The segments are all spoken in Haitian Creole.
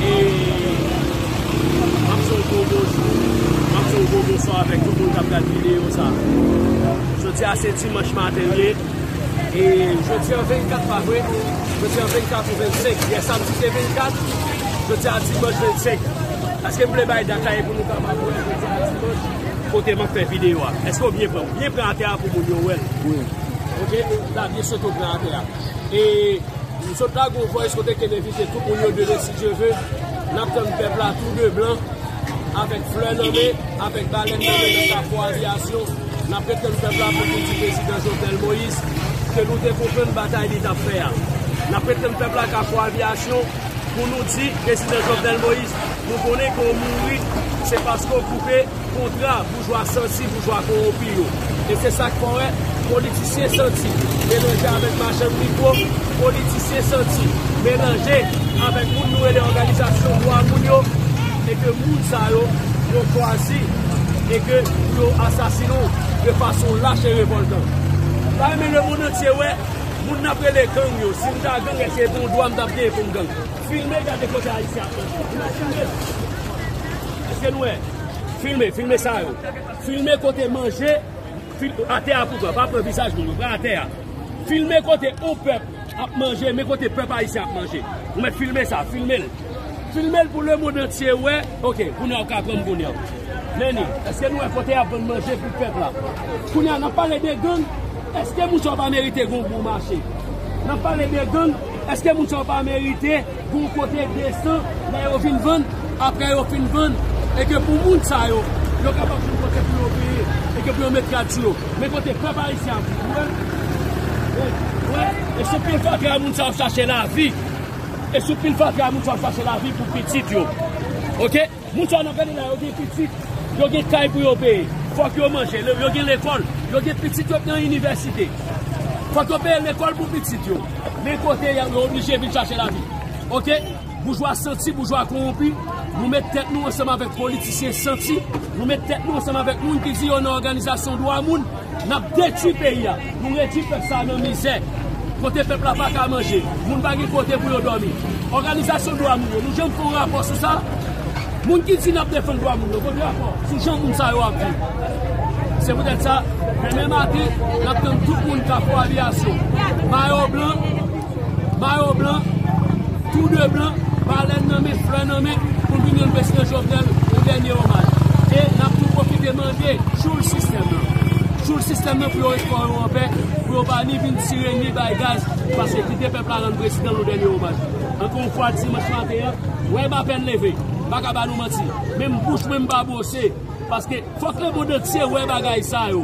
E map fè yon gwo bonjou, map fè yon gwo bonswa avèk tout moun kap gad videyo sa. Jodi a se dimanch maten li ye. E jodi an 24 pa vre? Jodi an 24 ou 25? Yè samdi te 24, jodi a dimanch 25. Eske m vle bay dat la e pou nou kapab wè jodi a dimanch kote map fè videyo a? Eske ou byen pran? Byen pran atè a pou moun yo wèl. Ok, la byen sot ou pran atè a. E. M sot lage yon voice kote kem envite tout moun yo demen si Dye ve nap tann pèp la tou 2 blan avèk flè nan men avèk balèn nan men nan kafou aviyasyon nap ret tann pèp la pou vin di prezidan Jovenel Moïse ke nou te konprann batay li tap fè a nap ret tann pèp la kafou aviyasyon pou nou di prezidan Jovenel Moïse nou konnen ke w mouri se paske w koupe. Kontra boujwa santi boujwa kowonpi yo. E se sa k fè w wè politisyen santi melanje avèk machann mikwo, politisyen santi melanje avèk moun nou rele òganizasyon dwa moun yo e ke moun sa yo yo chwazi e ke pou yo asasinen w de fason lach e revòltan. M ta renmen lemonn antye wè moun n ap rele gang yo. Si m ta gang, èske se pa yon dwa m t ap genyen pou m gang? Filme gade kote Ayisyen ap manje. Imajine! Eske nou wè? Filme, filme sa yo. Filme kote manje, atè a pou pran, pa pran vizaj moun yo, pran atè a. Filme kote on pèp ap manje, men kote pèp ayisyen ap manje. Nou mèt filme sa, filme l. Filme l pou le mond antye wè. Ok, kounye a ou ka pran m kounye a. Meni, eske nou wè kote y ap vann manje pou pèp la? Kounye a, n ap pale de gang, eske moun sa yo pa merite gen yon bon mache? N ap pale de gang, eske moun sa yo pa merite? Gon kote 200 lè yo vin vann aprè yo fin vann e ke pou moun sa yo yo kapab jwenn kote pou yo peye e ke pou yo met rad sou yo men kote pèp ayisyen ap viv wè wè e sou pil fatra moun sa ap chache lavi e sou pil fatra moun sa ap chache lavi pou pitit yo ok. Moun sa yo nap gade la yo gen pitit, yo gen kay pou yo peye, fòk yo manje, yo gen lekòl, yo gen pitit yo k nan inivèsite. Fòk yo peye lekòl pou pitit yo. Men kote y yo oblije vin chache lavi. Ok, boujwa santi, boujwa kowonpi, nou met tèt nou ansanm avèk politisyen santi, nou met tèt nou ansanm avèk moun ki di yo nan òganizasyon dwa moun. Nap detwi peyi a, nou redwi pèp sa a nan mizè, kote pèp la paka manje, moun pa gen kote pou yo dòmi. Òganizasyon dwa moun yo, nou janm fè yon rapò sou sa? Moun ki di nap defann dwa moun yo, kote rapò sou jan moun sa yo ap viv? Se poutèt sa, demen maten, nap tann tout moun Kafou Aviyasyon, mayo blan, Mayo blan, tou de blan, balèn nan men, flè nan men, pou n vin rann Prezidan Jovenel yon dènye omaj. E n ap tou pwofite mande tchoul sistèm nan, tchoul sistèm nan pou yo ret kò yo anpè, pou yo pa ni vin tire, ni bay gaz, pase kite pèp la rann Prezidan yon dènye omaj. Ankò yon fwa, dimanch maten an, wèy m apèn leve, m pa ka ba nou manti, menm bouch mwen m pa bwose, paske fòk lemond antye wè bagay sa yo.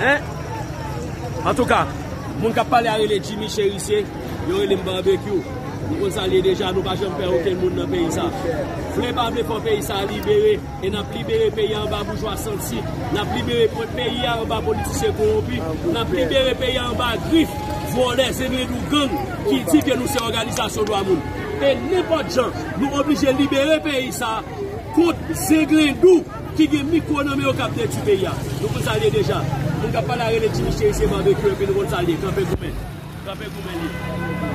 Hein Antouka Moun kap pale a rele Jimmy Cherisier Yo relem Barbecue Nou konn sa l ye deja Nou pa janm pè okenn moun nan peyi sa Vle pa vle fò peyi sa libere E nap libere peyi a anba boujwa santi Nap libere peyi a anba politisyen kowonpi Nap libere peyi a anba grif vòlè zemyendou gang Ki di ke nou se òganizasyon dwa moun E nenpòt jan Nou oblije libere peyi sa Kont zenglendou. Ki gen mikro nan men yo kap detwi peyi a. Nou konn sa l ye deja. Moun kap pale a rele ti miche isi se barbecue epi nou konn sa l ye. Kanpe goumen. Kanpe goumen l ye.